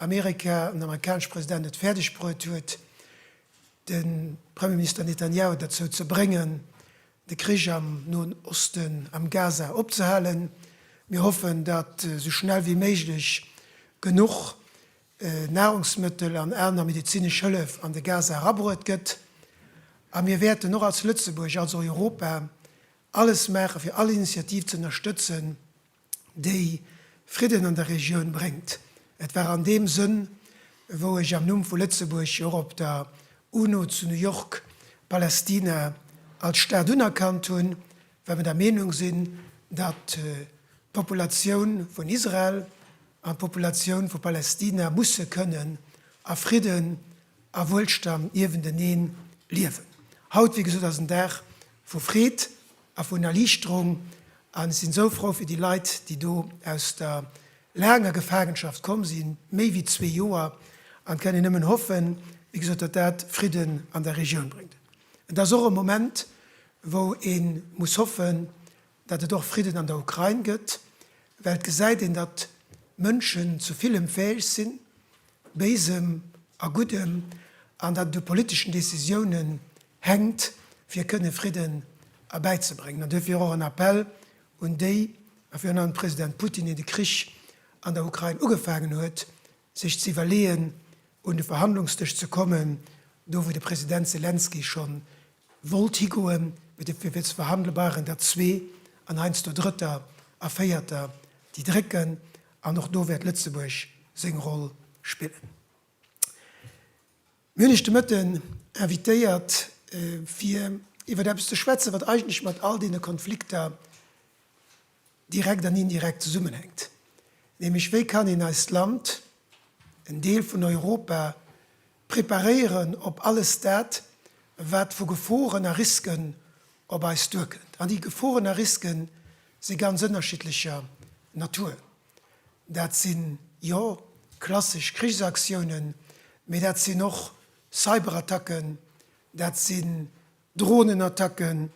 Amerika an den amerikanesche President et fäerdeg bruet huet, de Premierminister Netanjahu derzou ze bréngen, de Krich am Noen Osten, am Gaza opzehalen. Mir hoffen, datt esou schnell wéi méiglech genuch Nahrungsmëttel an aner medezinesch Hëllef an de Gaza erabruet gëtt. A mir wäerten och als Lëtzebuerg, als Europa alles maachen, fir all Initiativ ze ënnerstëtzen, déi Fridden an der Regioun bréngt. Et war an deem Sënn, wou ech am Numm vu Lëtzebuerg jo och op der UNO zu New York Palästina als Staat unerkannt hunn, well mer der Meenung sinn, datt d'Populatioun vun Israel an d'Populatioun vu Palästina musse kënnen a Fridden a Wuelstand niewentenee liewen. Haut, wéi gesot, ass en Dag vu Freed a vun Erliichterung an ech sinn esou frou fir déi Leit, déi do aus der laanger Gefaangenschaft komm sinn, méi wéi zwee Joer, an kënnen nëmmen hoffen, wéi gesot, datt dat Fridden an der Regioun bréngt. Et ass och e Moment, wou ee muss hoffen, datt et och Fridden an der Ukrain gëtt, well et gesäit een, datt Mënschen zu villem fäeg sinn, Béisem a Guddem, an dat et u politeschen Decisiounen hänkt, fir kënne Fridden erbäizebréngen. An duerfir och en Appell un déi, a virun allem de President Putin, deen de Krich an der Ukrain ugefaangen huet, sech ze iwwerleeën, un de Verhandlungsdësch ze kommen, do wou de President Selenskyj schonn wollt higoen, mee fir fir ze verhandele brauch een der zwee, an heiansdo drëtter a véierter, déi drécken. An och do wäert Lëtzebuerg seng Roll spillen. Mir hunn Iech de Mëtten invitéiert, fir iwwer eppes ze schwätzen, wat eigentlech mat all deene Konflikter direkt an indirekt zesummenhänkt, nämlech wéi kann een eist Land, en Deel vun Europa, Preparéieren op alles dat, wat vu Geforen a Risken op eis duerkënnt. An déi Geforen a Riske si ganz ënnerschiddlecher Natur. Dat sinn, jo, klassesch Krichsaktiounen, mee dat sinn och Cyberattacken, dat sinn Dronenattacken,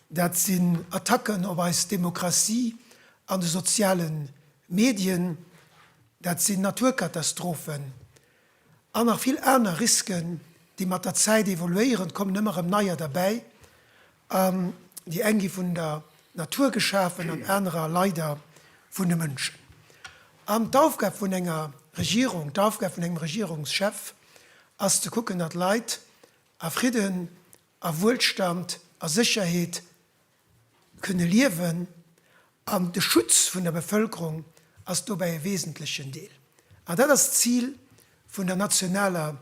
dat sinn Attacken op eis Demokratie an de soziale Medien, dat sinn Naturkatastrophen, An nach vill aner Risken, déi mat der Zäit evoluéieren. Et kommen ëmmer erëm neier derbäi. An déi eng gi vun der Natur geschafen an anerer leider vun de Mënschen. An d'Aufgab vun enger Regierung, d'Aufgab vun engem Regierungschef ass ze kucken, datt Leit a Fridden, a Wuelstand, a Sécherheet Kënne liewen, an de Schutz vun der Bevëlkerung ass dobäi e wesentlechen Deel. An dat ass d'Zil vun der nationaler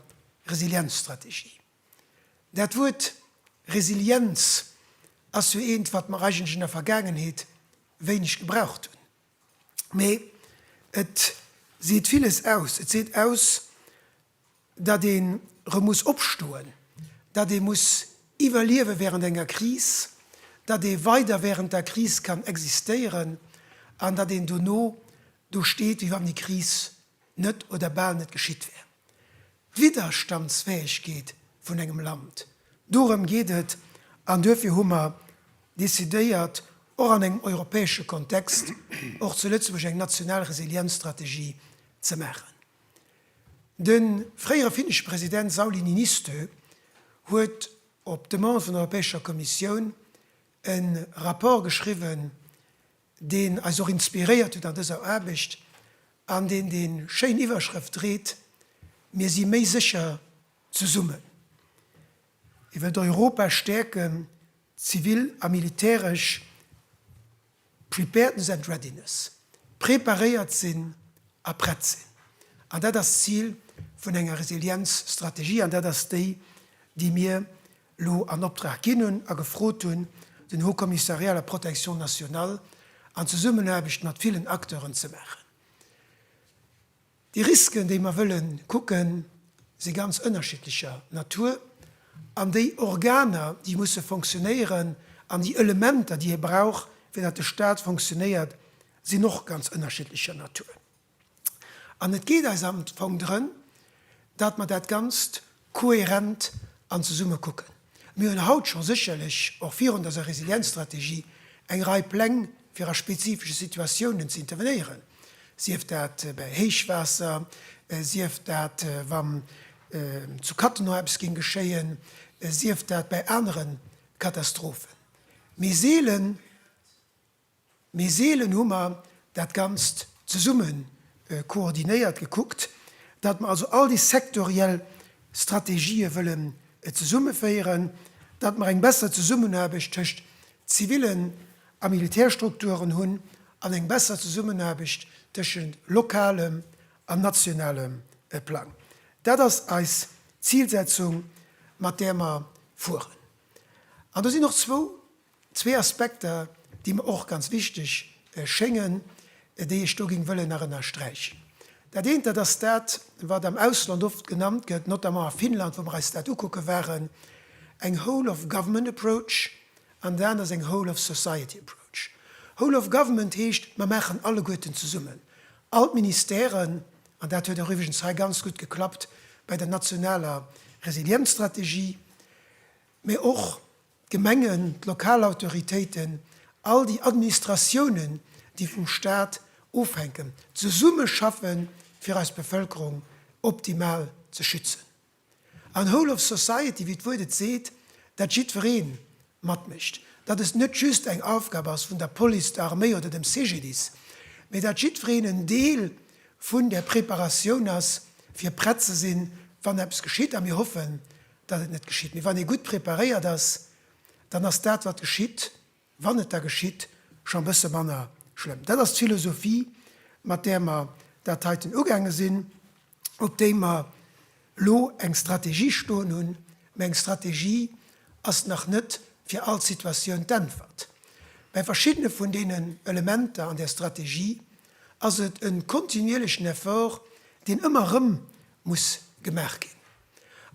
Resilienzstrategie. Dat Wuert Resilienz ass jo eent, wat mer eigentlech an der Vergaangenheet wéineg gebraucht hunn. Mee et seet villes aus. Et seet aus, datt ee erëm muss opstoen, datt ee muss iwwerliewe während enger Kris, datt ee weider während der Kris kann existéieren an datt een dono do steet wéi wann déi Kris net oder bal net geschitt wär. D'Widderstandsfäegkeet vun engem Land, dorëm geet et an duerfir hu mer decidéiert och an engem europäesche Kontext och zu Lëtzebuerg eng national Resilienzstrategie ze maachen. De fréiere finnesche President Sauli Niinistö huet op Demande vun der Europäescher Kommissioun e Rapport geschriwwen, deen eis och inspiréiert huet an dëser Aarbecht an deen déi schéin Iwwerschrëft dréit, Mir si méi sécher zesummen. Hie wëllt Europa stäerken, zivil a militäresch. Preparedness and readiness, preparéiert sinn a prett sinn. An dat ass d'Zil vun enger Resilienzstrategie an dat ass déi, déi mir elo an Optrag ginn hunn a gefrot hunn, den Haut Commissariat à la protection nationale an Zesummenaarbecht mat villen Acteuren ze maachen. Déi Risken, déi mer wëlle kucken, si ganz ënnerschiddlecher Natur. An déi Organer, déi musse fonctionnéieren, an déi Elementer, déi ee brauch, fir datt de Stat fonctionnéiert, sinn och ganz ënnerschiddlecher Natur. An et geet eis am Fong drëm, datt mer dat Ganzt Kohärent an zesumme kucken. Mir hunn haut scho sécherlech och virun dëser Resilienzstrategie eng Rei Pläng fir a spezifesche Situatiounen ze intervenéieren, sief dat bäi Héichwaasser, sief dat wa zu Cattenom eppes géing geschéien, sief dat bäi anere Katastrophen. Mee seelen. Mee seelen hu mer dat Ganzt zesumme koordinéiert gekuckt, datt mer also all déi sektoriell Strategië wëllen zesummeféieren, datt mer eng besser Zesummenaarbecht tëscht zivilen a Militärstrukturen hunn an eng besser Zesummenaarbecht tëschent lokalem an nationalem Plang. Dat ass eis Zilsetzung, mat där mer fueren. An do sinn och zwou. Zwee Aspekter, déi mer och ganz wichteg schéngen, déi ech do géing wëllen nach ënnersträichen. Dat eent, dat ass dat, wat am Ausland oft genannt gëtt, notamment a Finnland, wou mer eis dat ukucke waren, eng Whole of Government Approach an dat aner ass eng Whole of Society Approach. Whole of Government heescht, mer maachen alleguerten zesummen, all d'Ministèren, an dat huet och iwwregens hei ganz gutt geklappt bei der nationaler Resilienzstrategie, mä och d'Gemengen, d'lokal Autoritéiten, all déi Administratiounen, déi vum Stat ofhänken, zesummeschaffen, fir eis Bevëlkerung optimal ze schützen. An whole of society, wéi d'Wuert et seet, dat jiddweree matmécht, dat et net just eng Aufgab ass vun der Police, der Arméi oder dem CGDIS, mee dat jiddwereen en Deel vun där Preparatioun ass, fir prett ze sinn, wann eppes geschitt. A mir hoffen, datt et net geschitt, mee wann ee gutt preparéiert ass, dann ass dat wat geschitt, wann et da geschitt, scho e bësse manner schlëmm. Dat ass d'Philosophie, mat där mer dat heiten ugaange sinn, op déi mer elo eng Strategie stoen hunn. Mä eng Strategie ass nach net fir all Situatioun d'Äntwert. Bei verschiddene vun deenen Elementer an där Strategie ass et e kontinuierlechen Effort, deen ëmmer erëm muss gemaach ginn.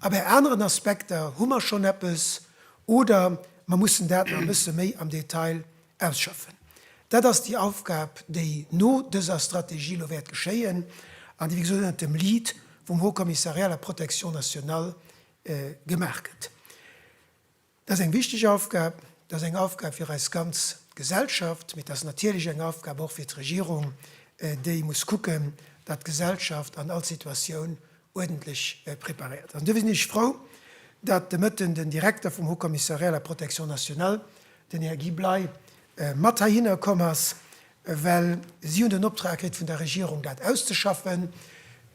A bei aneren Aspekter hu mer schonn eppes oder mer mussen dat nach e bësse méi am Detail ausschaffen. Dat ass déi Aufgab, déi no dëser Strategie elo wäert geschéien an déi, wéi gesot, ënnert dem Lead vum Haut Commissariat à la protection nationale gemaach gëtt. Dat ass eng wichteg Aufgab. Dat ass eng Aufgab fir eis ganz Gesellschaft. Mee dat ass natierlech eng Aufgab och fir d'Regierung, déi muss kucken, datt d'Gesellschaft an all Situatioun uerdentlech preparéiert ass. An duerfir sinn ech frou, datt de Mëtten den Direkter vum Haut Commissariat à la protection nationale, den Här Guy Bley, mat heihinner komm ass, Well si hunn den Optrag kritt vun der Regierung, dat auszeschaffen.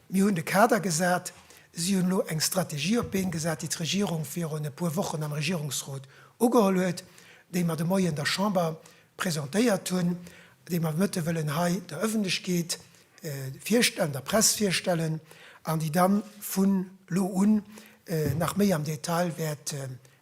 Mir hunn de Kader gesat. Si hunn elo eng Strategie op d'Been gesat, déi d'Regierung virun e puer Wochen am Regierungsrot ugeholl huet, déi mer de Moie an der Chamber presentéiert hunn, déi mer de Mëtte wëllen hei der Ëffentlechkeet virstellen, der Press virstellen an déi da vu lo un nach méi am Detail wäert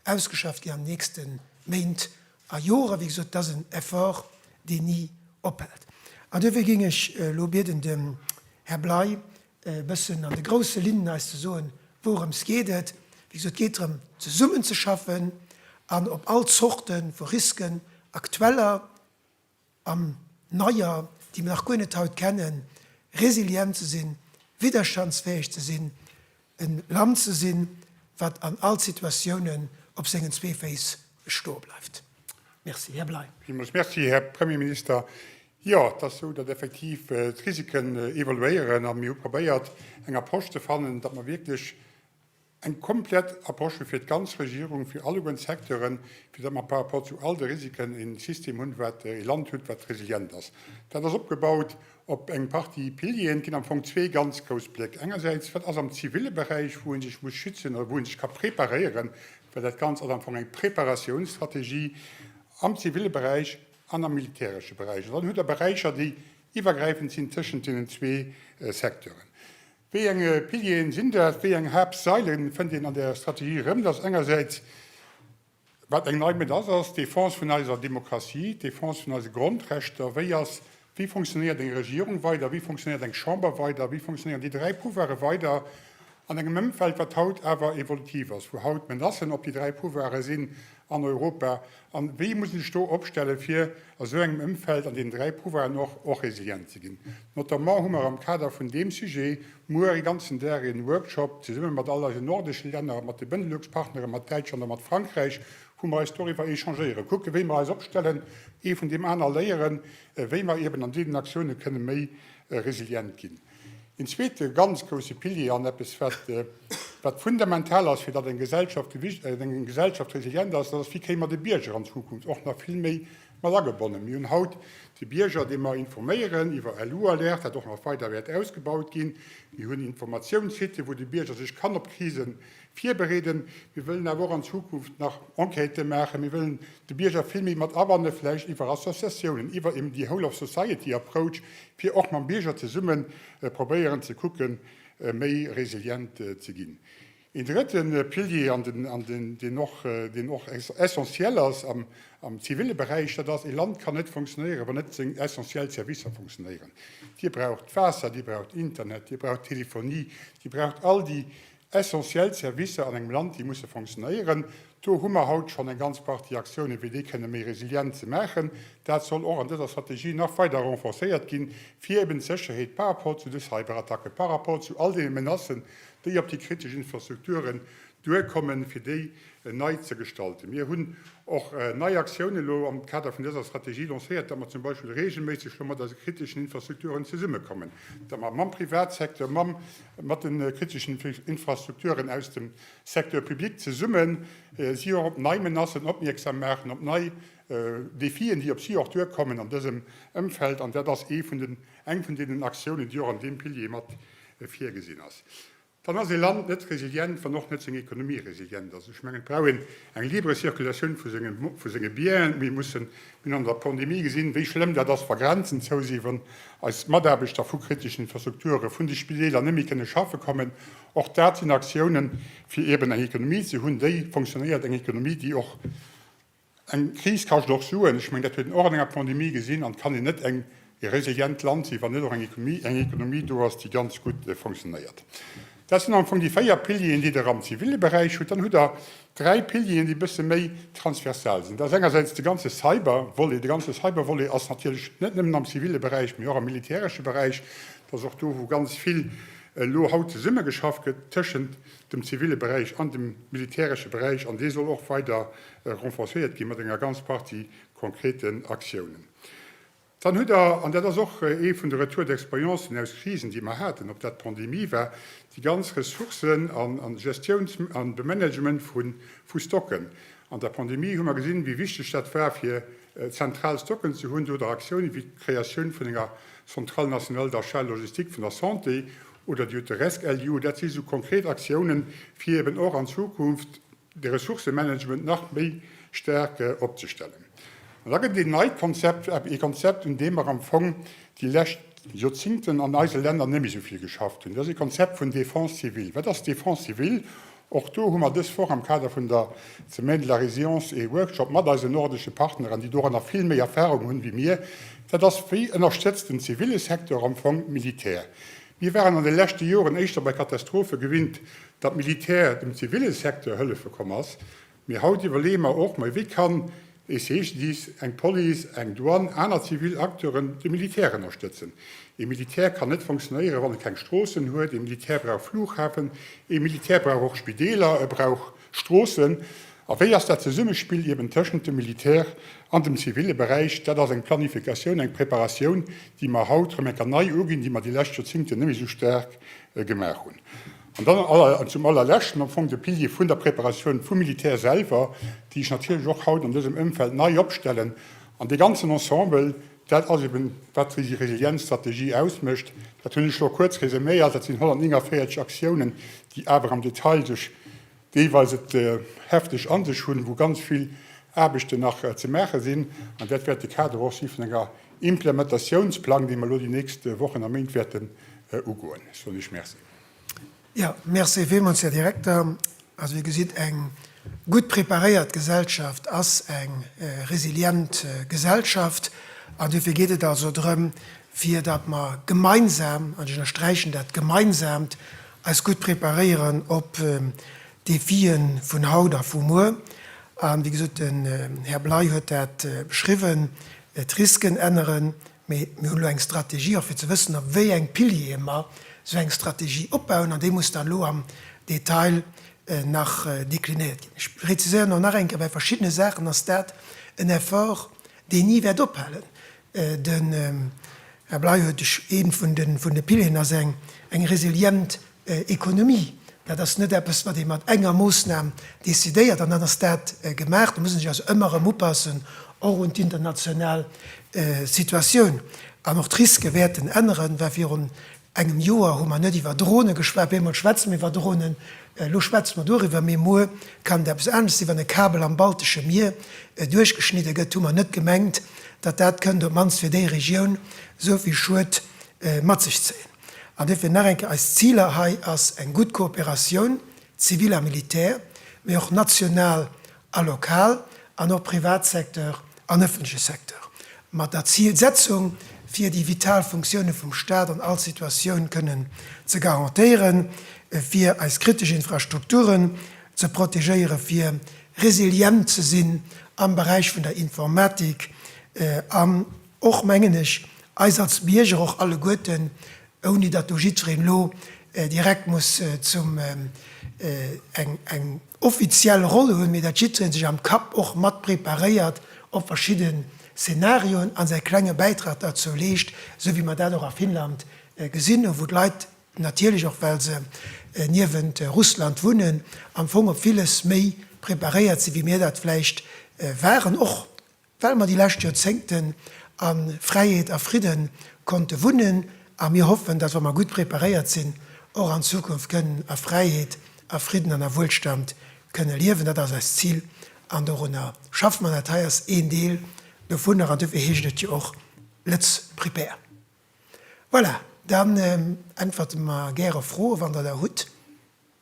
ausgeschafft ginn an den nächste Méint A Jore, wéi gesot, et ass en Effort, deen ni ophält. An duerfir géing ech elo bieden, dem Här Bley e bëssen an de grousse Linnen eis ze soen, wourëms geet et. Wéi gesot, et geet drëm, zesummenzeschaffen an op all Zorte vu Risken, aktueller, an neier, déi mir nach guer net haut kennen, resilient ze sinn, widderstandsfäeg ze sinn, e Land ze sinn, wat an all Situatiounen op sengen zwee Féiss stoe bleift. Merci. Här Bley. Villmools Merci, Här Premierminister. Jo, et ass esou, datt effektiv d'Risiken evoluéieren a mir hu probéiert, eng Approche ze fannen, datt mer wierklech, Eng komplett Approche fir d'ganz Regierung, fir alleguernd Secteuren, fir datt mer par rapport zu all de Risiken e System hunn, wat, e Land hutt, wat resilient ass. Dat ass opgebaut op eng Partie Pilieren. Et ginn am Fong zwee ganz grouss Bléck. Engersäits, wat ass am ziville Beräich, wou ee sech muss schützen oder wou ee sech ka preparéieren, well dat Ganzt ass am Fong eng Preparatiounsstrategie am ziville Beräich an am militäresche Beräich. An dann hutt Der Beräicher, déi iwwergräifend sinn tëschent deenen zwee Secteuren. Wéi eng Pilieren sinn dat? Wéi eng Haaptsaile fënnt een an der Strategie erëm? Dat ass engersäits, wat eng nei Mëtt ass, ass d'Defense vun eiser Demokratie, d'Defense vun eise Grondrechter. Wéi ass, wéi funktionéiert eng Regierung weider? Wéi funktionéiert eng Chamber weider? Wéi funktionéieren déi dräi Pouvoire weider an engem Ëmfeld, wat haut awer evolutiv ass, wou haut Menacen op déi dräi Pouvoire sinn an Europa? An wéi muss een sech do opstellen, fir a sou engem Ëmfeld an deenen dräi Pouvoiren och, och resilient ze ginn? Notamment hu mer am Kader vun deem Sujet muer e ganzen Dag e Workshop zesumme mat all eisen nordesche Länner, mat de Benelux-Partneren, mat Däitschland a mat Frankräich, wou mer eis doriwwer échangéieren, kucken, wéi mer eis opstellen, ee vun deem aner léieren, wéi mer eben an deenen Aktiounen kënnen méi resilient ginn. Een zweete ganz grousse Pilier an eppes, wat fundamental ass, fir datt eng Gesellschaft gewicht, eng Gesellschaft resilient ass, dat ass, wéi kréie mer de Bierger an Zukunft och nach vill méi mat agebonnen. Mir hunn haut de Bierger, dee mer informéieren iwwer LU-Alerte, wat och nach weider wäert ausgebaut ginn. Mir hunn Informatiouns-Sitë wou de Bierger sech kann op Krisen virbereeden. Mir wëllen awer och an Zukunft nach Enquêten maachen. Mir wëllen de Bierger vill méi mat abannen, vläicht iwwer Associatiounen, iwwer eben déi Whole of Society Approach, fir och mam Bierger zesumme probéieren ze kucken, méi resilient ze ginn. Een drëtte Pilier, an deen och, deen och essentiel ass am zivile Beräich, dat ass, ee Land kann net funktionéieren, wann net seng essentiell Servicer funktionéieren. Dir braucht d'Waasser, Dir braucht Internet, Dir braucht d'Telefonie, Dir braucht all déi Essentiell Servicer an engem Land, déi musse fonctionnéieren. Do hu mer haut schonn eng ganz Partie Aktiounen, fir déi kënne méi resilient ze maachen. Dat soll och an dëser Strategie nach weider renforcéiert ginn, fir eben d'Sécherheet par rapport zu de Cyberattacken, par rapport zu all deene Menacen, déi op déi kritesch Infrastrukturen duerkommen, fir déi nei ze gestalten. Mir hunn och nei Aktiounen elo am Kader vun dëser Strategie lancéiert, datt mer zum Beispill reegelméisseg elo mat eise kriteschen Infrastrukturen zesummekommen, datt mer mam Privatsecteur, mam Mat de kriteschen Infrastrukturen aus dem Secteur public zesumme si och op nei Menacen opmierksam maachen, op nei Defien, déi op si och duerkommen an dësem Ëmfeld. An dat ass eng vun deenen Aktiounen, déi och an deem Pilier mat virgesinn ass. Dann ass e Land net resilient, wann och net seng Ekonomie resilient ass. Ech mengen, et brauch een eng libre Circulation vu senge Bienen. Mir mussen Mir hunn an der Pandemie gesinn, wéi schlëmm dat ass, wa Grenzen zou sinn, wann eis Mataarbechter vu kriteschen Infrastrukture vun de Spideeler net méi kënne schaffe kommen. Och dat sinn Aktiounen, fir eeben eng Ekonomie ze hunn, déi fonctionnéiert, eng Ekonomie, déi och, eng Kris kascht och Suen, ech mengen, dat huet een och an enger Pandemie gesinn, an et kann een net eng ee resilient Land sinn, wann net och eng Ekonomie do ass, déi ganz gutt funktionéiert. Dat sinn am Fong déi véier Pilieren, déi Der am zivile Beräich hutt. Dann hutt Der dräi Pilieren, déi e bësse méi transversal sinn. Dat ass engersäits de ganze Cyber-Volet. De ganze Cyber-Volet ass natierlech net nëmmen am zivile Beräich, mee och am militäresche Beräich. Dat ass och do, wou ganz vill elo haut zesummegeschafft gëtt tëschent dem zivile Beräich an dem militäresche Beräich. An dee soll och weider renforcéiert ginn, mat enger ganz Partie konkreten Aktiounen. Dann hutt Der, an dat ass och ee vun de Retours d'expérience aus Krisen, déi mer haten, ob dat d'Pandemie war, déi ganz Ressourcen a Gestiouns a Bemanagement vu Stocken. An der Pandemie hu mer gesinn, wéi wichteg dat war, fir zentral Stocken ze hunn, oder Aktiounen, wéi d'Kreatioun vun enger Centrale nationale d'achat logistique vun der Santé oder déi hutt de RESC-LU. Dat si sou konkret Aktiounen, fir eeben och an Zukunft, de Ressourcëmanagement nach méi staark opzestellen. An da gëtt et een neit Konzept, ee Konzept, un deem mer am Fong déi lescht Joerzingten an eise Länner net méi esou vill geschafft hunn, dat ass ee Konzept vun Défense civile. Wat ass Défense civile? Och do hu mer dës Woch am Kader vun der Semaine de la résilience ee Workshop mat eisen nordesche Partneren, déi doranner vill méi Erfahrung hunn wéi mir. Dat ass, wéi ënnerstëtzt den zivile Secteur am Fong d'Militär? Mir waren an de leschte Joren éischter bei Katastrophe gewinnt, datt d'Militär dem ziville Secteur hëllefe komm ass, mee haut iwwerleeë mer och, Mei wéi kann ee CGDIS, eng Police, eng Douane, aner zivil Acteuren de Militär ënnerstëtzen? Ee Militär kann net fonctionnéieren, wann e keng Stroossen huet. Ee Militär brauch Flughafen, ee Militär brauch och Spideeler, e brauch. Stroossen? A wéi ass dat Zesummespill eben tëschent dem Militär an dem zivile Beräich? Dat ass eng Planifikatioun, eng Preparatioun, déi mer haut rëm eng Kéier nei uginn, déi mer déi lescht Joerzingten net méi esou staark gemaach hunn. An dann zum Allerleschten am Fong de Pilier vun der Preparatioun vum Militär selwer, déi ech natierlech och haut an dësem Ëmfeld nei opstellen an dee ganzen Ensemble, Dat ass eben, wat déi Resilienzstrategie ausmécht. Dat hunn ech elo kuerz resuméiert. Dat sinn 149 Aktiounen, déi awer am Detail sech deelweis et hefteg a sech hunn, wou ganz vill Aarbechten nach ze maache sinn. An dat wäert de Kader och si vun enger Implementatiounsplang, dee mer elo déi nächst Wochen a Méint wäerten ugoen. Ech soen Iech Merci. Jo, Merci villmools, Här Direkter. Also, Dir gesitt, eng gutt preparéiert Gesellschaft ass eng resilient Gesellschaft. An duerfir geet et also drëm, fir datt mer gemeinsam, an ech ënnersträichen dat Gemeinsaamt, eis gutt preparéieren op d'Defie vun haut a vu muer. A wéi gesot, den Här Bley huet dat beschriwwen, d'Risken änneren. Mee mir hunn elo eng Strategie, och fir ze wëssen, op wéi eng Piliere mer esou eng Strategie opbauen, an déi muss dann elo am Detail nach deklinéiert ginn. Ech präziséieren och nach eng Kéier, Bei verschiddene Saachen ass dat en Effort, deen ni wäert ophalen. Den Här Bley huet ee vun de Pilieren, ass eng resilient Ekonomie. Dat ass net eppes, wat ee mat enger Moosnam decidéiert an dann ass dat gemaach. Do muss een sech also ëmmer erëm upassen, och un d'international Situatioun. An och d'Risque wäerten änneren, well virun engem Joer hu mer net iwwer Drone geschwat, bemol schwätze mer iwwer Dronen, elo schwätze mer doriwwer, mee muer kann et eppes anescht sinn. Wann e Kabel am Baltesche Mier duerchgeschnidde gëtt, hu mer net gemengt, datt dat kënnt op d'mannst fir déi Regioun esou vill Schued mat sech zéien. An duerfir nach eng Kéier, Eis Ziler hei ass eng gutt Kooperatioun, zivil a militär, mee och national a lokal, an och Privatsecteur an ëffentleche Secteur, mat der Zilsetzung, fir déi vital Funktioune vum Stat an all Situatioun kënnen ze garantéieren, fir eis kritesch Infrastrukturen ze protegéieren, fir resilient ze sinn am Beräich vun der Informatik an, Och mengen ech, eis als Bierger, och alleguerten, ouni datt do jiddwereen elo direkt muss zum eng offiziell Roll hunn, mee datt jiddwereen sech am Kapp och mat preparéiert op verschidde Szenarioen a säi klenge Bäitrag derzou leescht, esou wéi mer dat och a Finnland gesinn hu wou d'Leit natierlech, och well se niewent Russland wunnen, am Fong op villes méi preparéiert sinn, wéi mir dat vläicht waren. Och Well mer déi lescht Joerzéngten a Fräiheet a Fridde konnte wunnen a mir hoffen, datt wa mer gutt preparéiert sinn, och an Zukunft kënnen a Fräiheet, a Fridden an a Wuelstand kënne liewen. Dat ass eist Zil an dorunner schaffe mer. Dat hei ass een Deel dovunner an dofir heescht et jo och Lët'z Prepare. Voilà, dann äntwerte mer gäre Froe wann Der der hutt.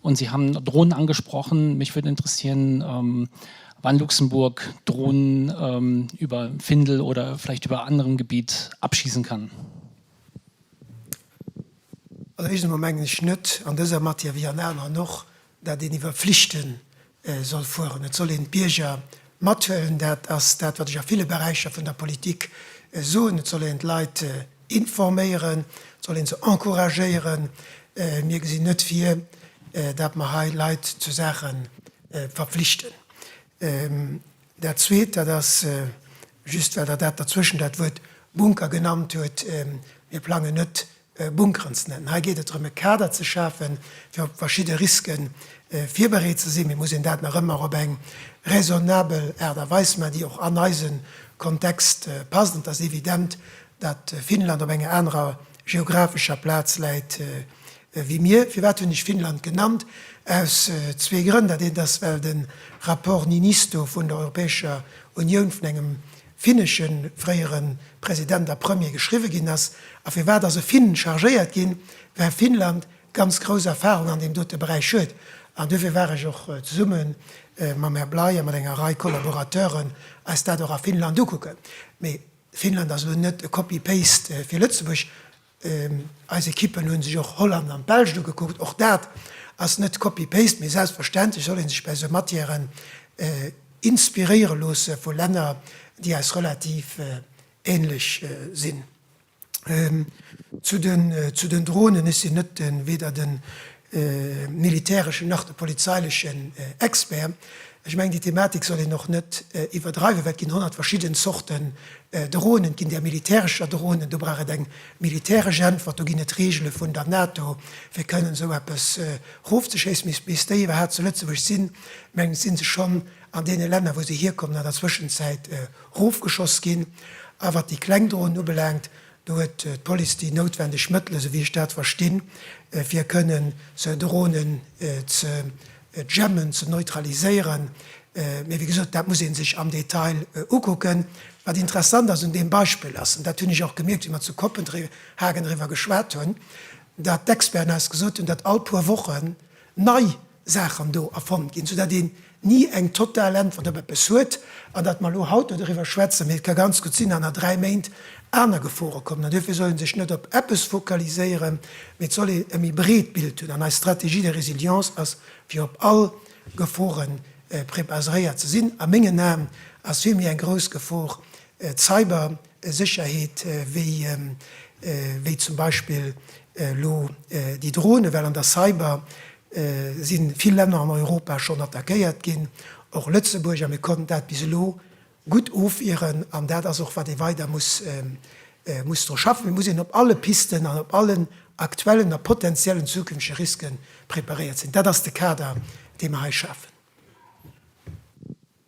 Und Sie haben Drohnen angesprochen. Mich würde interessieren, wann Luxemburg Drohnen über Findel oder vielleicht über anderem Gebiet abschießen kann. Also éischtens emol mengen ech net an dëser Matière, wéi an aneren och, dat een iwwer Pflichten soll fueren. Et soll een d'Bierger mathuelen. Dat ass dat, wat ech a ville Beräicher vun der Politik soen. Et soll een d'Leit informéieren. Et soll een se encouragéieren. Mir gesinn net vir, dat mer hei Leit zu Saache verpflichten. Dat Zweet, dat ass just, well Der dat derzwëschen dat Wuert Bunker genannt hutt, Mir plangen net, Bunkeren ze nennen. Hei geet et drëm e Kader ze schafen, fir op verschidde Riske virbereet ze sinn. Mee muss een dat nach ëmmer op eng raisonnabel Aart a Weis maachen, déi och an eise Kontext passt. Et ass evident, datt Finnland op enger anerer geographescher Plaz läit wéi mir. Firwat hunn ech Finnland genannt? Aus zwee Grënn. Dat eent ass, well de Rapport Niinistö vun der Europäescher Unioun vun engem finnege fréiere President a Premier geschriwwe ginn ass a firwat ass e Finn chargéiert ginn, well Finnland ganz grouss Erfarung an deem dote Beräich huet. An duerfir war ech och zesumme mam Här Bley a mat enger Rei Collaborateuren eis dat och a Finnland ukucken. Mee Finnland ass elo net e Copy-paste fir Lëtzebuerg. Eis Ekippen hunn sech och Holland an d'Belsch ugekuckt. Och dat ass net copy-paste, mee selbstverständlech soll een sech bäi esou Matièren inspiréiere loosse vu Länner déi eis relativ ähnlech sinn. Zu den Dronen, ech sinn net den, weder den militäreschen nach de polizeilechen Expert. Ech mengen, déi Thematik soll een och net iwwerdreiwen, well et ginn honnert verschidden Zorten Dronen. Et ginn där militärescher Dronen, do brauch et eng militäresch Äntwert. Do ginn et Reegele vun der NATO, fir kënnen esou eppes erofzeschéissen. Mee bis déi iwwerhaapt zu Lëtzebuerg sinn, mengen ech, si se schonn an deene Länner, wou se hierkommen, an der Zwëschenzäit erofgeschoss ginn. A wat déi kleng Dronen ubelaangt, Do huet d'Police déi noutwendeg Mëttele, sou wéi ech dat verstinn, fir kënnen sou Dronen ze jammen, ze neutraliséieren. Mee wéi gesot, dat muss ee sech am Detail ukucken. Wat interessant ass un deem Beispill ass, an dat hunn ech och gemierkt, wéi mer zu Kopenhagen eriwwer geschwat hunn, datt d'Experten eis gesot hunn, datt all puer Wochen nei Saachen do erfonnt ginn, soudatt een ni eng total Äntwert op eppes huet. An datt mer elo haut do doriwwer schwätzen, mee et ka ganz gutt sinn, datt an a dräi Méint aner Gefore kommen. An duerfir soll ee sech net op eppes focaliséieren, mee et soll ee e méi breet Bild hunn. An eis Stratégie de résilience ass, fir op all Gefore prepaseréiert ze sinn. A mengen Aen ass vill méi eng grouss Gefor d'Cybersécherheet wéi zum Beispill elo déi Dronen, well an der Cyber sinn vill Länner an Europa schonn attackéiert ginn, och Lëtzebuerg, a mir konnten dat bis elo gutt ofwieren. An dat ass och, wat ee weider muss, muss dru schaffen. Et muss een op alle Pisten an op allen aktuellen a potenziellen zukünftege Risken preparéiert sinn. Dat ass de Kader, dee mer hei schafen.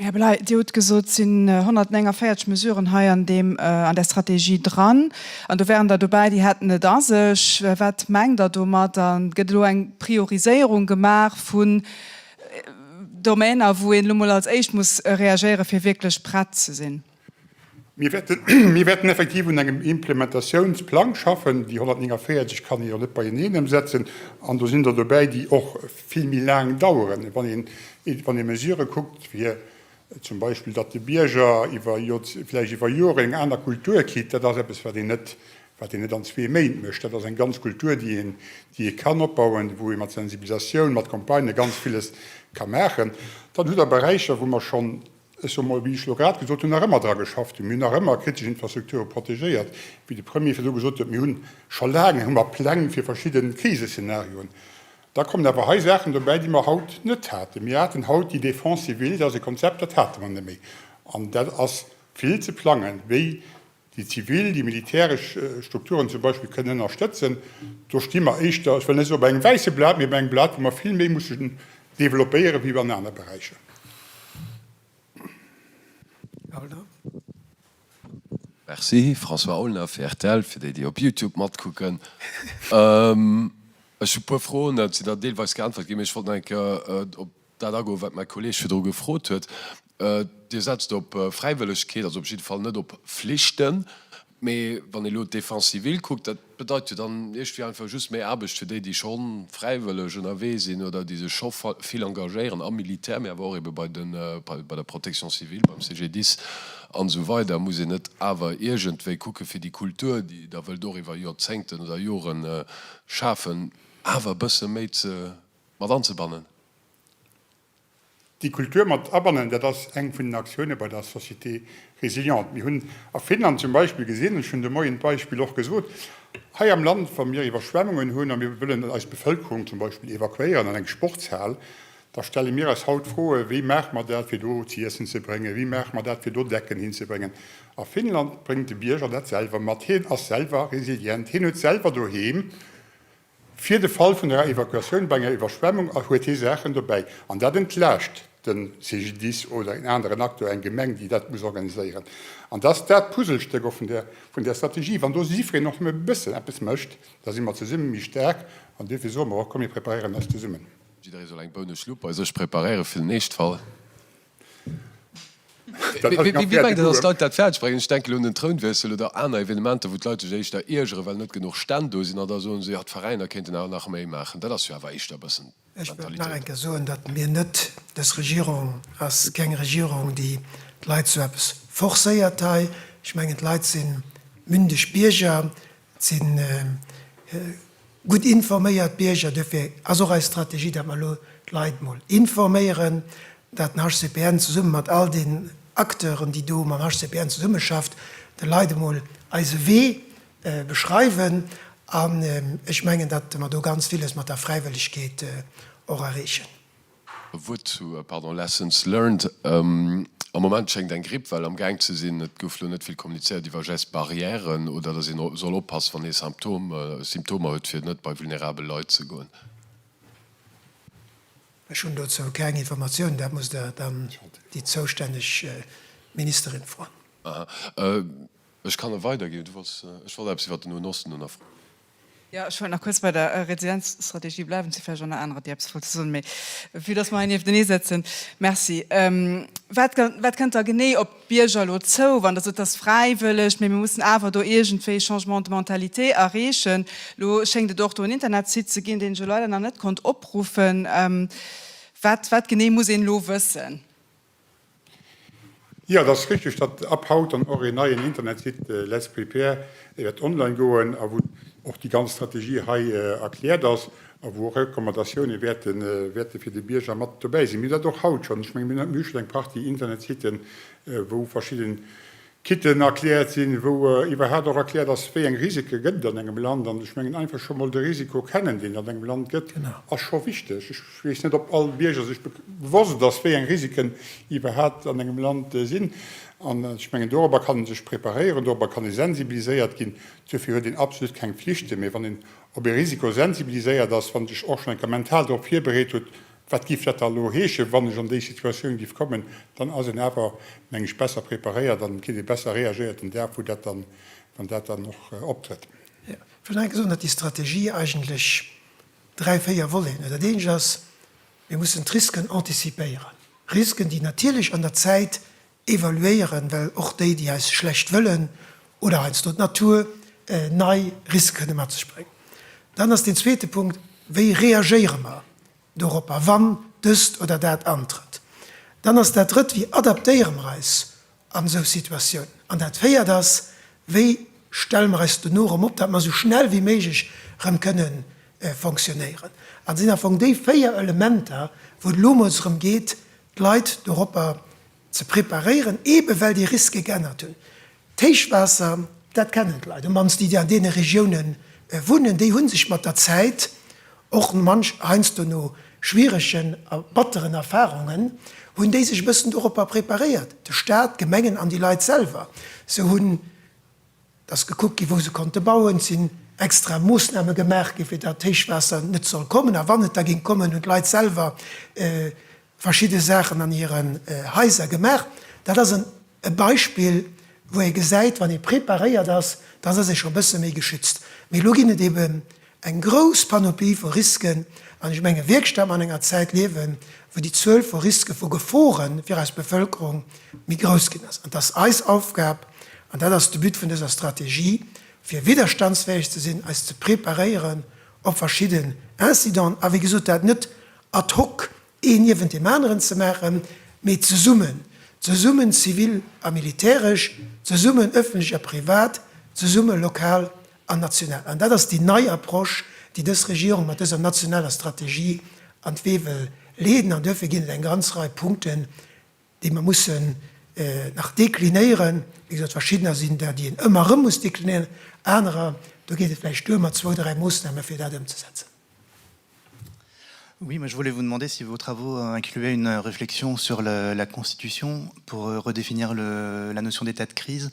Här Bellay, Dir hutt gesot, et sinn 149 Mesuren hei an där Strategie dran, an do waren der dobäi, déi hätten et a sech. Wat mengt Der domat? A gëtt elo eng Prioriséierung gemaach vun Domainer, wou een elo mol als éischt muss reagéieren, fir wierklech prett ze sinn? Mir wäerten effektiv un engem Implementatiounsplang schaffen. Déi 149 kann een jo net beieneen ëmsetzen. An do sinn der dobäi, déi och vill méi laang daueren. Wann een, wann ee Mesurë kuckt, wéi zum Beispill, datt de Bierger iwwer vläicht iwwer Joren eng aner Kultur kritt, dat ass eppes, wat een net, wat een net an zwee Méint mécht. Dat ass eng ganz Kultur, déi een, déi ee kann opbauen, wou ee mat Sensibilisatioun, mat Campagnë ganz villes ka maachen. Dann hutt Der Beräicher, wou mer schonn Ech soe mol, wéi ech elo grad gesot hunn, nach ëmmer dra geschafft hunn. Mir hunn nach ëmmer kritesch Infrastrukture protegéiert, wéi de Premier virdu gesot huet. Mir hu scho laang hu mer Pläng fir verschidde Kriseszenarioen. Da kommen awer hei Saachen dobäi, déi mer haut net haten. Mir haten haut déi Défense civile, dat ass e Konzept, dat hate mer net méi. An dat ass vill ze plangen, wéi déi zivil, déi militäresch Strukturen zum Beispill kënnen ënnerstëtzen, do sti mer éischter, ech wëll net soen op engem wäisse Blat, mee op engem Blat, wou mer vill méi mussen developpéieren, wéi an aner Beräicher. Merci. François Aulner fir rtl, fir déi, déi op Youtube matkucken. Ech hu e puer Froen, se sinn der deelweis geäntwert ginn, mee ech wollt nach eng Kéier op. dat agoen, wat mäi Kolleeg virdru gefrot huet. Dir setzt op Fräiwëllegkeet, also op jidde Fall net op Flichten. Mee wann ee elo d'Défense civile kuckt, dat bedeit jo dann iergendwéi einfach just méi Aarbecht fir déi, déi scho fräiwëlleg ënnerwee sinn oder déi sech scho vill engagéieren am Militär, mee awer och eebe bei den, bei der Protection civile, beim CGDIS an esou weider. Muss een net awer iergendwéi kucken, fir déi Kultur, déi Der wëllt och iwwer Jorzéngten oder Joren schafen, awer e bësse méi ze mat anzebannen. Déi Kultur mat abannen, dat ass eng vun den Aktioune bei der Société résiliente. Mir hunn a Finnland zum Beispill gesinn, ech hunn de Moien d'Beispill och gesot, hei am Land, wa mir Iwwerschwemmungen hunn a mir wëllen eis Bevëlkerung zum Beispill evakuéieren an eng Sportshal, da stelle mir eis haut d'Froe, wéi maache mer dat, fir do z'iessen ze bréngen, wéi maache mer dat, fir do Decken hinzebréngen. A Finnland bréngt de Bierger dat selwer mat. Hien ass selwer resilient, hien huet selwer doheem. Fir de Fall vun enger Evakuatioun bei enger Iwwerschwemmung huet hie Saachen dobäi. An dat entlaascht de CGDIS oder en aneren Acteur, eng Gemeng, déi dat muss organiséieren. An dat ass dat Puzzlestéck och vun där Strategie. Wann do jiddwereen och nëmme e bëssen eppes mécht, da si mer zesumme méi staark. An duerfir soe mer och, Komm mir preparéieren eis zesummen. Jidderee soll eng Bounenschlupp bei sech preparéieren fir den Eeschtfall. Wéi mengt Dir, datt d'Leit dat fäerdeg bréngen? Ech denken un den Trounwiessel oder aner Evenementer, wou d'Leit sech éischter iergeren, well net genuch Stänn do sinn, an da soe se, jo, d'Veräiner kéinten awer nach méi maachen. Dat ass jo awer éischter e bëssen d'Mentalitéit. Ech wëll nach eng Kéier soen, datt mir net, dës Regierung ass keng Regierung, déi d'Leit zu eppes forcéiert hei. Ech mengen, d'Leit si mündeg Bierger, Et si gutt informéiert Bierger. Duerfir ass och eis Strategie, datt mer elo d'Leit emol informéieren, datt den HCPN zesumme mat all den Acteuren, déi do mam HCPN zesummeschafft, de Leit emol eise Wee beschreiwen. An ech mengen, datt mer do ganz villes mat der Fräiwëllegkeet och erreechen. E Wuert zu Lessons learned, Am Moment schéngt eng Grippwell am Gaang ze sinn. Et gouf lo net vill kommunizéiert iwwer Gestes barrières oder dass ee soll oppassen, wann ee Symptomer huet, fir net bei vulnerabel Leit ze goen. Ech hunn dozou keng Informatiounen. Dat musst Der dann déi zoustänneg Ministerin froen. Ech kann e weiderginn. Ech wollt eppes iwwert den Noen Osten nofroen. Jo, ech wollt nach kuerz bei der Residenzstrategie bleiwen. Et si vläicht och nach anerer, déi eppes wollte soen, mee vue dass mer hei nieftenee sëtzen. Merci. Wat, wat kënnt da genee op d'Bierger elo zou, wann Der sot, et ass fräiwëlleg, mee mir mussen awer do iergendwéi Changement de mentalité erreechen? Elo schéngt et och do en Internetsite ze ginn, deen ech elo leider nach net konnt opruffen. Wat, wat genee muss een elo wëssen? Jo, et ass richteg, datt ab haut dann och een neien Internetsite Let's Prepare wäert online goen a wou och déi ganz Strategie hei erkläert ass a wou och Recommandatioune wäerte fir de Bierger mat dobäi sinn. Mir hunn dat och haut schonn. Ech menge mir hu schonn eng Partie Internetsiten, wou verschidde Kitten erkläert sinn, wou iwwerhaapt och erkläert ass, wéi eng Risike gëtt et an engem Land. An ech mengen, einfach scho mol de Risiko kennen, deen et an engem Land gëtt, ass scho wichteg. Ech weess net, ob all Bierger sech bewosst ass, wéi eng Risiken iwwerhaapt an engem Land sinn. An ech mengen, dorobber kann ee sech preparéieren, dorobber kann ee sensibiliséiert ginn. Duerfir huet een absolut keng Pflichten, mee wann een op ee Risiko sensibiliséiert ass, wann een sech och schonn eng Kéier mental dorop virbereet huet, Wat giff dat da elo heeschen, wann ech an déi Situatioun giff kommen? Dann ass een awer, meng ech, besser preparéiert an kritt ee besser reagéiert den Dag, wou dat dann, wann dat dann och optrëtt. Jo, ech wollt nach eng Kéier soen, datt déi Strategie eigentlech dräi, véier Voleten huet. Dat eent ass, mir mussen d'Risken anticipéieren, Risken, déi natierlech an der Zäit Evaluéieren, well och déi, déi eis schlecht wëllen oder heiansdo d'Natur, nei Risque kënne mat sech bréngen. Dann ass deen zweete Punkt, Wéi reagéiere mer doropper, wann dëst oder dat antrëtt? Dann ass dat Drëtt, Wéi adaptéiere mer eis an esou Situatiounen? An dat Véiert ass, Wéi stelle mer eis dono erëm op, datt mer esou schnell wéi méiglech erëm kënne fonctionnéieren? Dat sinn am Fong déi véier Elementer, wou et elo emol drëm geet, d'Leit doropper ze preparéieren, eebe well déi Riske geännert hunn. D'Héichwaasser, dat kennen d'Leit, um mannst déi, déi an deene Regiounen wunnen, déi hu sech mat der Zäit och manch heiansdo no schwieregen a batteren Erfarungen, hunn déi sech e bëssen doropper preparéiert, de Staat, d'Gemengen an déi Leit selwer. Se hunn. Et ass gekuckt ginn, wou se konnte bauen. Et sinn extra Moossname gemaach ginn, fir datt d'Héichwaasser net soll kommen. A wann et da géing kommen, hunn d'Leit selwer verschidde Saachen an hiren Haiser gemaach. Dat ass e Beispill, wou ee gesäit, wann ee preparéiert ass, dann ass ee scho e bësse méi geschützt. Mee elo ginn et eeben Eng grouss Panoplie vu Risken, an ech menge wierkstam an enger Zäit liewen, wou déi Zuel vu Riske, vu Gefore fir eis Bevëlkerung méi grouss ginn ass. An et ass eis Aufgab, an dat ass de But vun dëser Strategie, fir widderstandsfäeg ze sinn, eis ze preparéieren op verschidden Incidenten, a wéi gesot, dat net ad hoc een niewent deem aneren ze maachen, mee zesummen, zesummen zivil a militäresch, zesummen ëffentlech a privat, zesumme lokal an national. An dat ass déi nei Approche, déi dës Regierung mat dëser nationaler Strategie an d'Wee wëll leeden. An duerfir ginn et eng ganz Rei Punkten, déi mer mussen nach deklinéieren. Wéi gesot, verschiddener sinn der, déi een ëmmer erëm muss deklinéieren, anerer, do geet et vläicht duer mat zwou, dräi Moossname fir dat ëmzesetzen. Oui, moi je voulais vous demander si vos travaux incluaient une réflexion sur la Constitution pour redéfinir la notion d'état de crise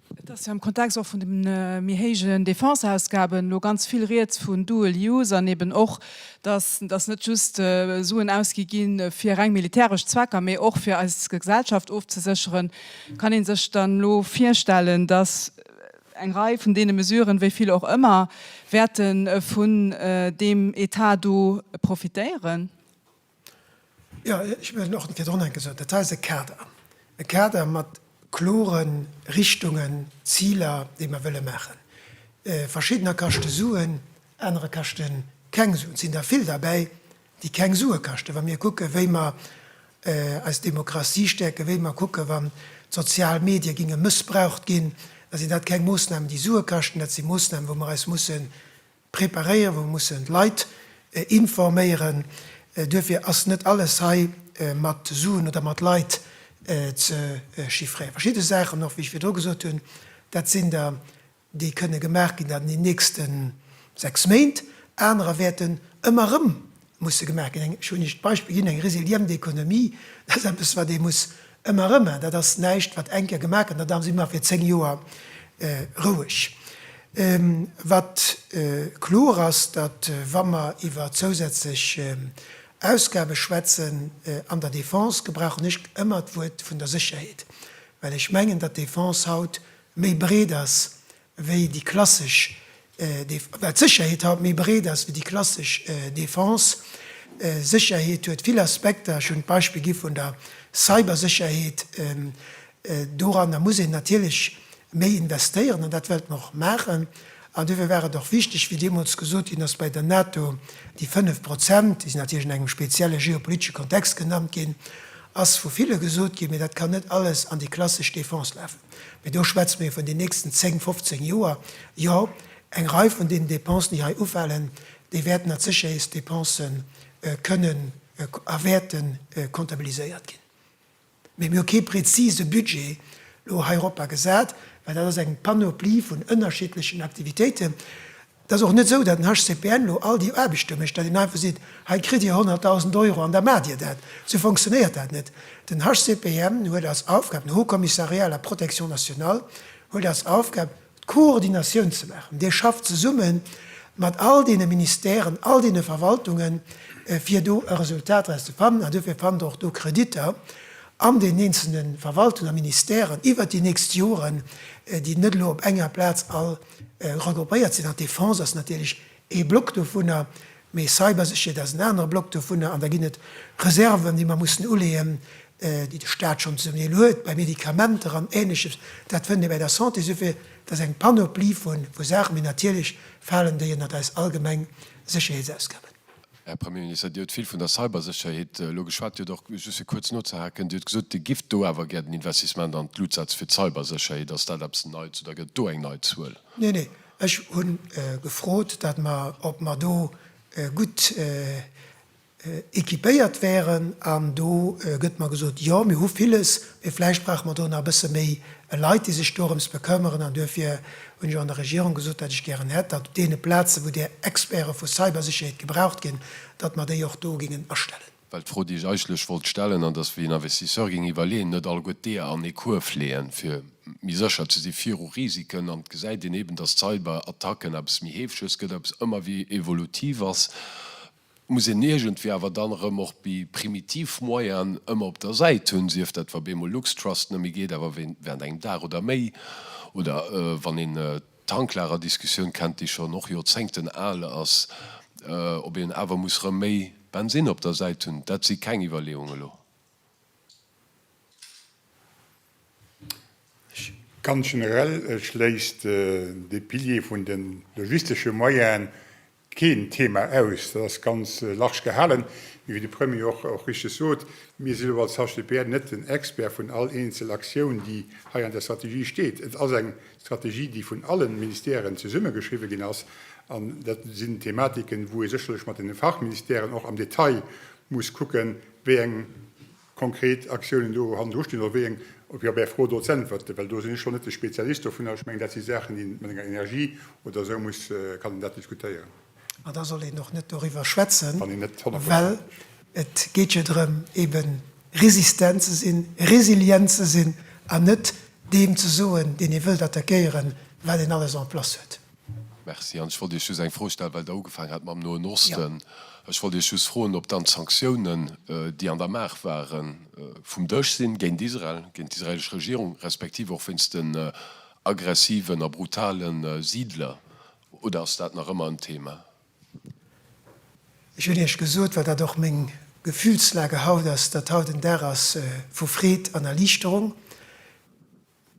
Et ass jo am Kontext och vun de méi héijen Défense-Ausgaben elo ganz vill Rieds vun dual use an eben och, dass dass net just Suen ausgi gi fir reng militäresch Zwecker, mee och fir eis Gesellschaft ofzesécheren. Kann ee sech dann elo virstellen, dass eng Rei vun deene Mesuren, wéi vill och ëmmer, wäerte vun deem Etat do profitéieren? Jo, ech hunn och virdrun eng gesot. Dat hei ass e Kader. E Kader mat klore Richtungen, Ziler, déi mer wëlle maachen. Verschiddener kaschte Suen, anerer kaschte keng Suen. Et sinn der vill derbäi, déi keng Sue kaschten, wa mir kucken, wéi mer eis Demokratie stäerken, wéi mer kucken, wann d'sozial Medie ginge mëssbraucht ginn, da sinn dat keng Moossnamen, déi Sue kaschten. Dat si Moossnamen, wou mer eis musse Preparéieren, wou mussen d'Leit informéieren. Duerfir ass net alles hei mat Suen oder mat Leit ze chiffréieren. Verschidde Saachen och, wéi ech virdru gesot hunn, dat sinn der, déi kënne gemaach ginn an den nächste sechs Méint. Anerer wäerten ëmmer erëm Musse gemaach ginn. Ech hunn Iech d'Beispill ginn, eng resilient Economie, dat ass eppes, wat ee muss ëmmer erëmmen. Dat ass näischt, wat eng Kéier gemaach gëtt an da si mer fir zéng Joer roueg. Wat kloer ass, datt, wa mer iwwer zousätzlech Ausgabe schwätzen an der Defense, gebrauchen ech ëmmer d'Wuert vun der Sécherheet, well ech mengen, datt d'Defense haut méi breet ass wéi déi klassesch Def, well d'Sécherheet haut méi breet ass wéi déi klassesch Defense. Sécherheet huet vill Aspekter, ech hunn d'Beispill gi vun der Cybersécherheet, doranner muss een natierlech méi investéieren an dat wéilt mer och maachen. An duerfir war et och wichteg, wéi deemools gesot ginn ass bei der NATO, déi 5 Prozent, déi sinn natierlech an engem spezielle geopolitesche Kontext genannt ginn, ass vu ville gesot ginn, mee dat kann net alles an déi klassesch Defense lafen. Mee do schwätze mir vun den nächsten 10, 15 Joer. Jo, eng Rei vun deenen Dépensen, déi hei ufalen, déi wäerten als Sécherheetsdépense kënnen a wäerte comptabiliséiert ginn. Mee mir hu kee prezise Budget elo hei eropper gesat, well dat ass eng Panoplie vun ënnerschiddlechen Aktivitéiten, Et ass och net esou, datt den HCPN elo all déi Aarbechte mécht, datt een einfach seet, hei kritt Dir 100.000 Euro an da maacht Dir dat. Esou fonctionnéiert dat net. Den HCPN huet als Aufgab, den Haut Commissariat à la protection nationale huet als Aufgab, d'Koordinatioun ze maachen. Dee schafft zesumme mat all deene Ministèren, all deene Verwaltungen, fir do e Resultat draus ze fannen. An duerfir fannt Der och do Kreditter an deenen eenzele Verwaltungen a Ministèren iwwert déi nächst Joren, déi net elo op enger Plaz all Regroupéiert sinn an d'Defense ass natierlech ee Block dovunner, mee Cybersécherheet ass en anere Block dovunner. An da ginn et Reserven, déi mer mussen uleeën, déi de Staat schonn zum Deel huet bei Medikamenter an Ähnleches. Dat fënnt ee bei der Santé. Esouguer et ass eng Panoplie vu Saachen, mee natierlech falen déi ënnert eis allgemeng Sécherheetsausgaben. Här Premier Minister, Dir hutt vill vun der Cybersécherheet elo geschwat. Dir huet och, just fir kuerz nozehaken, Dir hutt gesot, Dir gift do awer gär den Investissement an d'Luutz-Sätz fir d'Cybersécherheet. Ass dat eppes Neits oder gëtt et do eng nei Zuel? Nee, nee, ech hu gefrot, datt mer, ob mer do gutt équipéiert wären. An do gëtt mer gesot, Jo, mir hu villes, mee vläicht brauche mer do nach e bësse méi e Leit, déi sech dorëms bekëmmeren. An duerfir hunn ech och an der Regierung gesot, datt ech gären hätt, datt op deene Plazen, wou där Experte vu Cybersécherheet gebraucht ginn, datt mer déi och do gingen astellen. Well d'Fro, déi ech eigentlech wollt stellen, an dass, wéi en Investisseur géing iwwerleeën, net alleguer d'Eeër an ee Kuerf leeën, fir méi sécher ze si viru Risiken. An et gesäit een eeben, datt Cyberattacken eppes méi heefeges gëtt, eppes ëmmer wéi evolutiv ass. muss een iergendwéi awer dann erëm och bi primitiv Moyenen ëmmer op der Säit hunn, sief dat wa beemol Luxtrust net méi geet, awer während engem Dag oder méi, oder wann een d'Tanklagerdiskussioun kennt, déi schonn och Joerzéngten al ass, ob een awer muss erëm méi Bensinn op der Säit hunn. Dat si keng Iwwerleeungen elo. Ganz generell schléisst de Pilier vun de logistesche Moyenen, Keen Thema aus, dat ass ganz large gehalen, mee wéi de Premier och richteg sot, mir sinn elo als HCPR net den Expert vun all eenzel Aktioun, déi hei an der Strategie steet. Et ass eng Strategie, déi vun alle Ministèren zesummegeschriwwe ginn ass, an dat sinn Thematiken, wou ee sécherlech mat den Fachministèren och am Detail muss kucken, wéi eng. konkret Aktiounen do hannendru stinn oder wéi eng, op Är Bär Fro do z'äntwerten, well do sinn ech scho net de Spezialist dovunner. Ech mengen, dat si Saachen, déi een mat enger Energie oder esou muss, kann een dat diskutéieren. An da soll een och net doriwwer schwätzen, well et geet jo drëm, eben resistent ze sinn, resilient ze sinn an net deem ze soen, deen ee wëllt attackéieren, wat een alles en place huet. Merci. An ech wollt Iech just eng Fro stellen, well Der ugefaangen hat mam Noen Osten. Ech wollt Iech just froen, ob dann d'Sanktiounen, déi an der Maach waren, vum Dësch sinn, géint Israel, géint d'israelesch Regierung, respektiv och wéinst den aggressiven a brutale Siidler, oder ass dat nach ëmmer en Thema? Ech hunn Iech gesot, well dat och meng Gefühlslage haut ass, datt haut en Dag ass vu Freed an Erliichterung.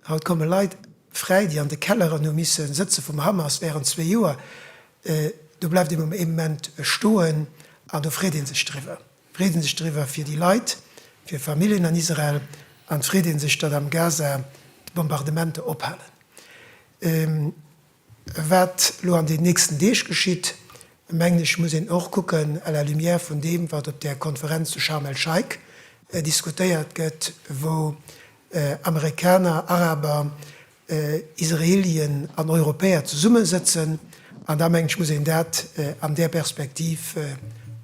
Haut komme Leit fräi, déi an de Kelleren hu misse sëtze vum Hamas wärend zwee Joer. Do bleift ee Moment stoen an do freet ee sech driwwer. Freet ee sech driwwer fir déi Leit, fir Familljen an Israel an et freet ee sech, datt am Gaza d'Bombardementer ophalen. Wat elo an den nächsten Deeg geschitt, mengen ech, muss een och kucken à la lumière vun deem, wat op där Konferenz zu Scharm el-Scheik diskutéiert gëtt, wou Amerikaner, Araber, Israelien an Europäer zesummesëtzen. An da, mengen ech, muss een dat an där Perspektiv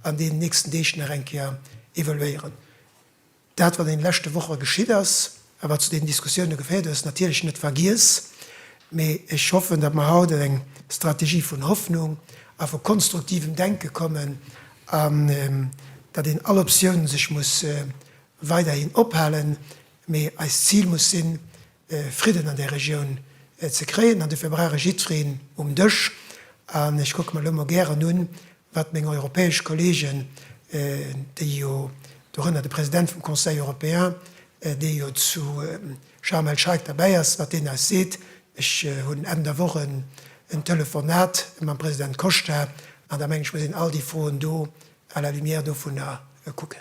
an deenen nächsten Deeg nach eng Kéier evaluéieren. Dat wat an den leschte Woche geschitt ass a wat zu deenen Diskussioune geféiert huet, ass natierlech net vergiess, mee ech hoffen, datt mer haut an eng Strategie vun Hoffnung a vu konstruktivem Denke kommen an datt een all Optioun sech muss weiderhin ophalen, mee eist Zil muss sinn, Fridden an där Regioun ze kréien. An dofir brauch ech jiddwereen um Dësch. An ech kucke mer elo mol gären un, wat meng europäesch Kolleegen, déi jo, dorënner de President vum Conseil européen, dee jo zu Sharm el-Sheikh derbäi ass, wat deen eis seet. Ech hunn Enn der Woch en Telefonat mam President Costa. An da meng ech, muss een all déi Froen do à la lumière dovunner kucken.